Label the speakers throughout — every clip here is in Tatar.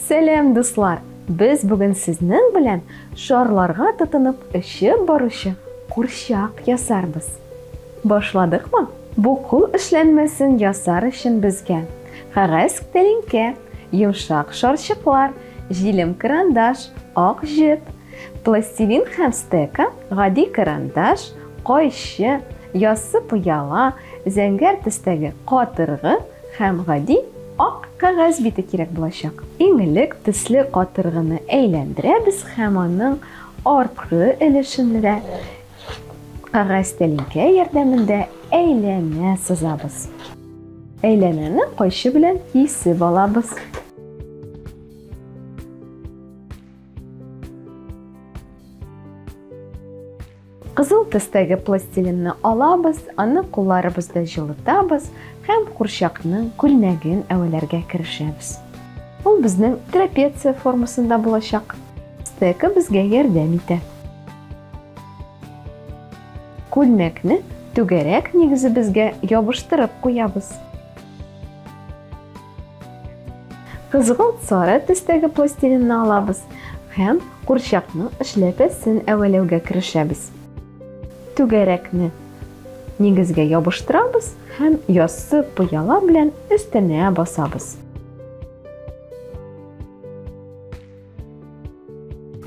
Speaker 1: Сәлам, дуслар! Без бүген сезнең белән шарларга тотынып эчеп баручы курчак ясарбыз. Башладыкмы? Бу кул эшләнмәсен ясар өчен безгә кәгазь тәлинкә, йомшак шарчыклар, җилем карандаш, ак җеп, Пластилин һәм стека, гади карандаш, кайчы, яссы пыяла, зәңгәр төстәге катыргы һәм гади ак кәгазь бите кирәк булачак. Иң элек төсле катыргыны әйләндерәбез һәм аның арткы өлешендә кәгазь тәлинкә ярдәмендә әйләнә сызабыз. Әйләнәне кайчы белән кисеп алабыз. Кызыл төстәге пластилинны алабыз, аны кулларыбызда җылытабыз һәм курчакның күлмәген әвәләргә керешәбез. Ул безнең трапеция формасында булачак. Стека безгә ярдәм итә. Күлмәкне түгәрәк нигезебезгә ябыштырып куябыз. Кызгылт сары төстәге пластилинны алабыз һәм курчакның эшләпәсен әвәләүгә керешәбез. Түгәрәкне нигезгә ябыштырабыз һәм яссы пыяла белән өстенә басабыз.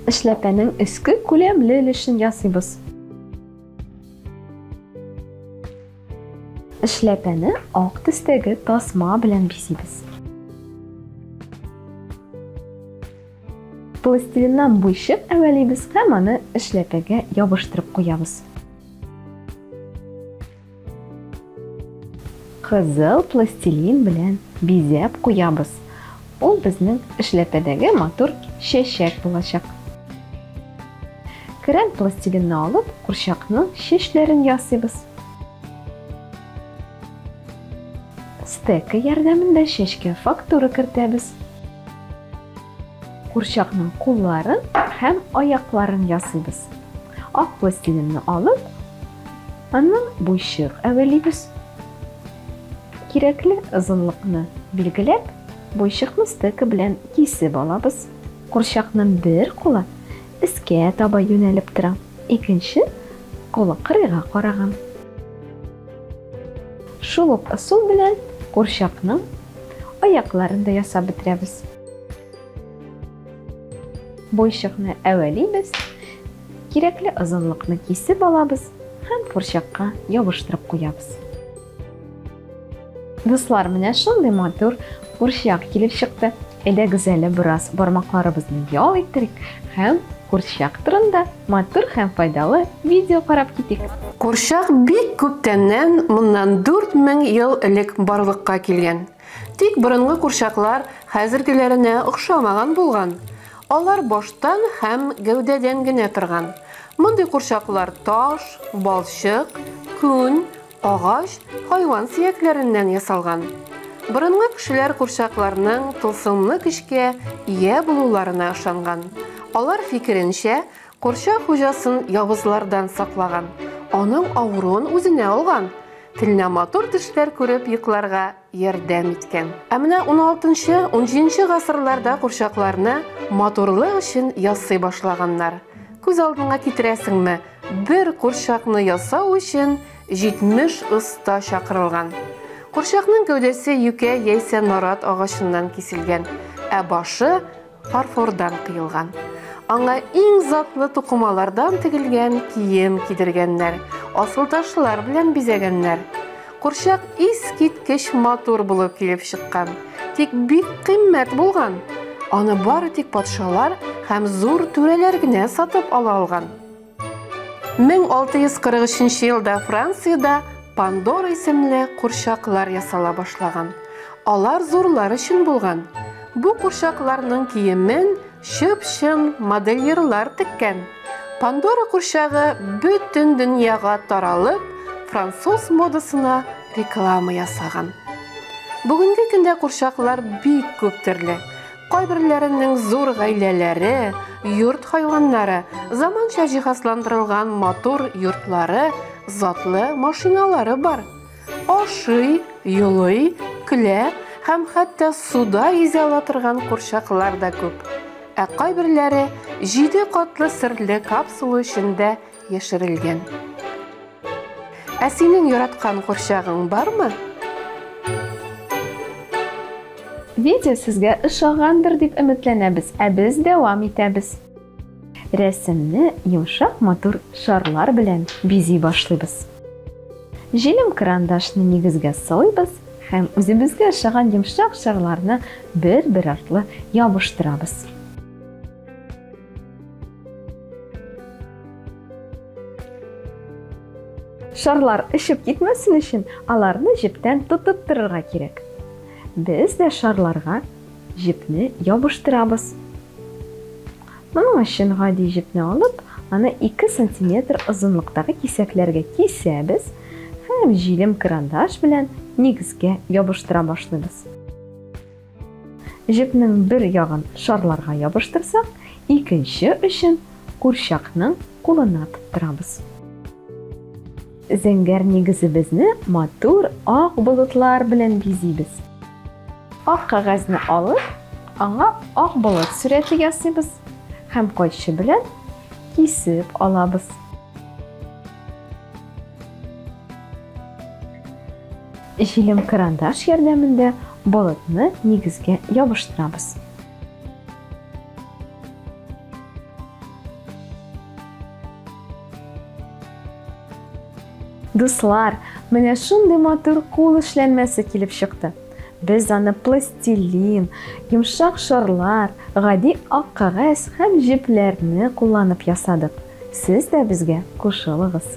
Speaker 1: Эшләпәнең өске күләмле өлешен ясыйбыз. Эшләпәне ак төстәге тасма белән бизибез. Пластилиннан буйчык әвәлибез һәм аны эшләпәгә ябыштырып куябыз. Кызыл пластилин белән бизәп куябыз. Ул безнең эшләпәдәге матур чәчәк булачак. Крем пластилинны алып, курчакның чәчләрен ясыйбыз. Стека ярдәмендә чәчкә фактура кертәбез. Курчакның кулларын һәм аякларын ясыйбыз. Ак пластилинны алып, аның буйчык әвәлибез. Кирәкле озынлыкны билгеләп, буйчыкны стека белән кисеп алабыз. Курчакның бер кулы өскә таба юнәлеп тора, икенче кулы кырыйга караган. Шул ук ысул белән курчакның аякларын да ясап бетерәбез. Бойчыкны әвәлибез, кирәкле озынлыкны кисеп алабыз һәм фурчакка ябыштырып куябыз. Дуслар, менә шундый матур курчак килеп чыкты. Әйдәгез әле бераз бармакларыбызны ял иттерик һәм курчак турында матур һәм файдалы видео карап китик. Курчак бик
Speaker 2: күптәннән, моннан 4000 ел элек барлыкка килгән. Тик борынгы курчаклар хәзергеләренә охшамаган булган. Алар баштан һәм гәүдәдән генә торган. Мондый курчаклар таш, балчык, күн, агач, хайван сөякләреннән ясалган. Борынгы кешеләр курчакларның тылсымлы көчкә ия булуларына ышанган. Алар фикеренчә, курчак хуҗасын явызлардан саклаган, аның авыруын үзенә алган. Телне матур төшләр күреп йокларга ярдәм иткән. Ә менә 16-17 гасырларда курчакларны матурлык өчен ясый башлаганнар. Күз алдыңа китерәсеңме, бер курчакны ясау өчен 70 оста чакырылган. Курчакның гәүдәсе юкә яисә нарат агачыннан киселгән, ә башы Фарфордан кыелган. Аңа иң затлы тукымалардан тегелгән кием кидергәннәр, асылташлар белән бизәгәннәр. Курчак искиткеч матур булып килеп чыккан, тик бик кыйммәт булган. Аны бары тик патшалар һәм зур түрәләр генә сатып ала алган. 1643 елда Франциядә Пандора исемле курчаклар ясала башлаган. Алар зурлар өчен булган. Бу курчакларның киемен чып-чын модельерлар теккән. Пандора курчагы бөтен дөньяга таралып, француз модасына реклама ясаган. Бүгенге көндә курчаклар бик күп төрле. Кайберләренең зур гаиләләре, йорт хайваннары, заманча җиһазландырылган матур йортлары, затлы машиналары бар. Ашый, юлый, көлә һәм хәтта суда йөзә ала торган курчаклар да күп. Ә кайберләре җиде катлы серле капсула эчендә яшерелгән. Ә синең яраткан курчагың бармы?
Speaker 1: Видео сезгә ошагандыр дип өметләнәбез, ә без дәвам итәбез. Рәсемне йомшак матур шарлар белән бизи башлыйбыз. Җилем карандашны нигезгә салыйбыз һәм үзебезгә ошаган йомшак шарларны бер-бер артлы ябыштырабыз. Шарлар ишеп китмәсен өчен, аларны җептән тотып торырга кирәк. Без дә шарларга җепне ябыштырабыз. Моның өчен гади җепне алып, аны 2 сантиметр озынлыктагы кисәкләргә кисәбез һәм җилем крандаш белән нигезгә ябыштыра башлыйбыз. Җепнең бер ягын шарларга ябыштырсак, икенче очын курчакның кулына тоттырабыз. Зәңгәр нигезебезне матур ак болытлар белән бизибез. Ак кәгазьне алып, аңа ак болыт сурәте ясыйбыз һәм кайчы белән кисеп алабыз. Җилем карандаш ярдәмендә болытны нигезгә ябыштырабыз. Дуслар, менә шундый матур кул эшләнмәсе килеп чыкты. Без аны пластилин, йомшак шарлар, гади ак кәгазь һәм җепләрне кулланып ясадык. Сез дә безгә кушылыгыз.